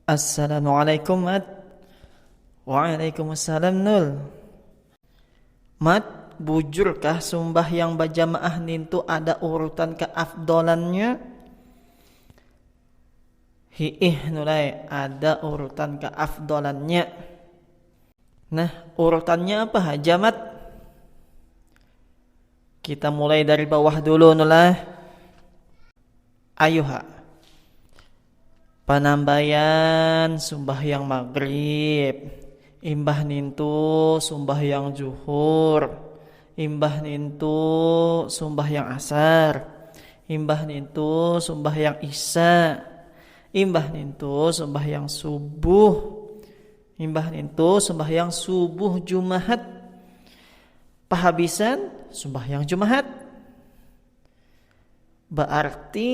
Assalamualaikum Mat Waalaikumsalam Nul Mat, bujurkah sumbahyang bajamaah nintu ada urutan keafdolannya? Hi'ih Nul ai, ada urutan keafdolannya Nah, urutannya apa haja Mat? Kita mulai dari bawah dulu nulah. Ayuha. Panambayan yang maghrib. Imbah nintu sumbah yang juhur. Imbah nintu sumbah yang asar. Imbah nintu sumbah yang isya. Imbah nintu sumbah yang subuh. Imbah nintu sumbah yang subuh Jumahat Pahabisan sumbahyang jumahat baarti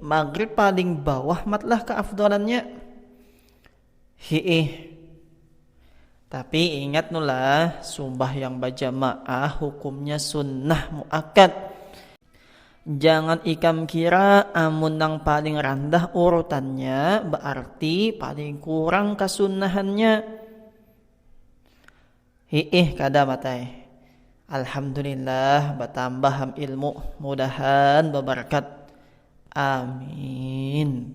magrib paling bawah matlah keafdolannya hiih tapi ingat nulah sumbahyang bajamaah hukumnya sunnah muakkad jangan ikam kira amun nang paling randah urutannya baarti paling kurang kasunnahannya Hiih kada Mat ai. Alhamdulillah batambah am ilmu mudahan babarkat. Amin.